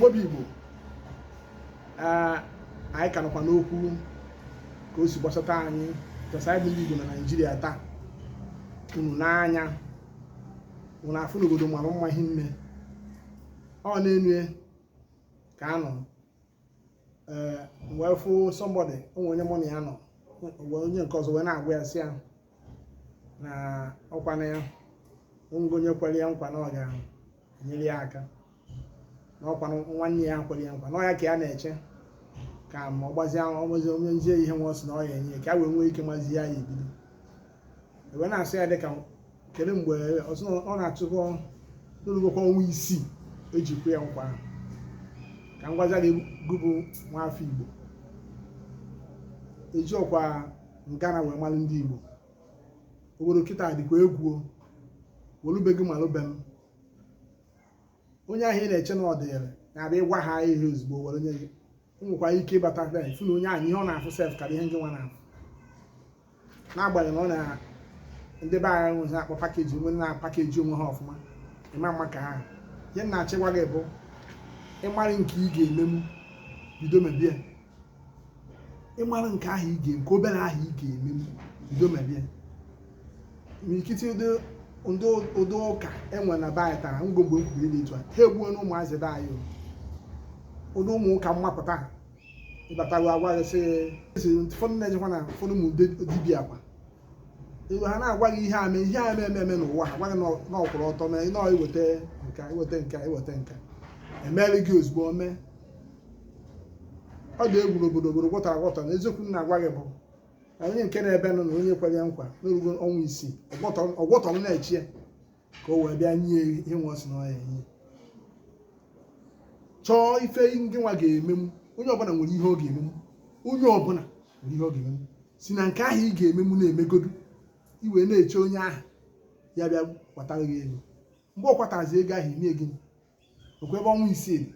Igbo bụ Igbo anyị ka nọkwa n'okwu ka o si gbasata anyị chọsa anyị bụ ndị Igbo na Naịjirịa taa unu nee anya unu afụ na obodo mara mma ihe nne ọ na-enye ka a nọ wee fụ somebody o nwee onye mụ na ya nọ onye nke ọzọ wee na-agwa ya sị ya na ọkwa na o nwee onye kwere ya nkwa na ọ ga-enyere ya aka na ọkwa nwanne ya kwere ya nkwa na ọ ya ka ya na-eche ka ma ọ gbazie ọgbazi o nyezie ihe nwa ọ sị na ọ ya-enye ka a wee nwee ike mazi ya ya ebido e wee na-asị ya dịka kedu mgbe ọ sị ọ na-achụkọ na o lugokwa ọnwa isii eji kwe ya nkwa ahụ ka m gwazie gị gị bụ nwa afọ Igbo ejirọkwa ngana wee mara ndị Igbo obodo kịta dịkwa egwu o welubeghị malụbe m onye ahụ ị na-eche na ọ dịrị na-abịa ịgwa ha ihe ozugbo were onye gị nwekwara ike ịbata na ị fụ na onye ahụ ihe ọ na-afụ sef karịa ihe ngị nwa na-afụ n'agbanyeghị na ọ na ndị be anyị nwezi akpọ package wee na-apackage onwe ha ọfụma ịma mma ka ha ihe m na-achọ ịgwa gị bụ ị mara nke ị ga-emenwu bido mebe ya ị mara nke ahụ ị ga nke obere ahụ ị ga-eme bido mebe ya n'ikiti ụdị ndị ụdị ụka e nwe na be anyị tara ngo mgbe m kwuru dị etu a ha egbuona ụmụazị be anyị o. ụdị ụmụ ụka mmapụta ha ị batago agwa gị sị ụfọdụ na-ejekwa na ụfọdụ ụmụ dibia kwa ha na-agwa gị ihe ame ihe ame eme eme n'ụwa ha gwa gị na ọ kwụrụ ọtọ mee nọọ i weta nke a i weta nke a i weta nke a emeela gị ozugbo mee ọ dị egwu n'obodo obodo gwọtọ agwọtọ na eziokwu m na-agwa gị bụ na onye nke na-ebe nọ na onye kwere ya nkwa na o rugo ọnwa isii ọ kwụ ọtọ na-eche ya ka o wee bịa nye ihe nwa ọ sị na ọ ya-enye chọọ ife ngị nwa ga-emenwu onye ọbụla nwere ihe ọ ga-emenwu onye ọbụla nwere ihe ọ ga-emenwu si na nke ahụ ị ga-emenwu na-emegodu i wee na-eche onye ahụ ya bịa kwatara gị ego mgbe ọ kwatazi ego ahụ inye gị okwe ebe ọnwa isii dị.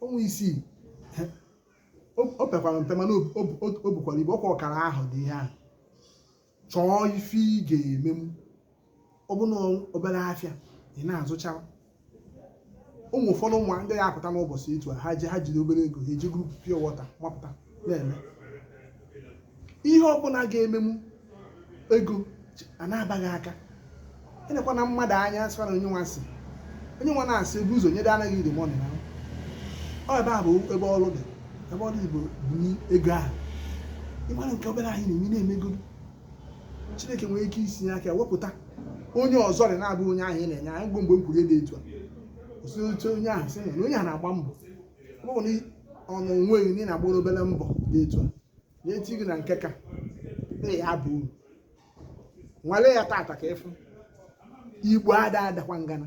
ọnwa isii o o pekwara mpe mana o- o- o- o bukwara ibu ọkwa ọkara ahọ dị ihe ahụ chọọ ife ị ga-emenwu ọbụna obere afịa ị na-azụcha ụmụ ụfọdụ ụmụ ndị ya apụta n'ụbọchị etu a ha ji ha jiri obere ego ha eji goro pure water mapụta na-eme ihe ọbụla ị ga-emenwu ego a na-aba gị aka ị nekwana mmadụ anya sịkwa na onye nwa si onye nwa na-asị ebe ụzọ nyere anaghị iri mọnị na ọ ebe a bụ ebe ọrụ dị ebe ọrụ Igbo bụ ego ahụ ị mara nke obere ahụ ị na-eme na-emego chineke nwere ike isi ya aka wepụta onye ọzọ rị na-abụ onye ahụ ị na-ele anya mgbe mgbe m kwuru dị etu a osite onye ahụ sị na onye ahụ na-agba mbọ ọ bụ na ọnụ onweghị na ị na-agba obere mbọ dị etu a na-eti gị na nke ka na ya bụ uru nwale ya tata ka ị fụ igbo ada adakwa ngana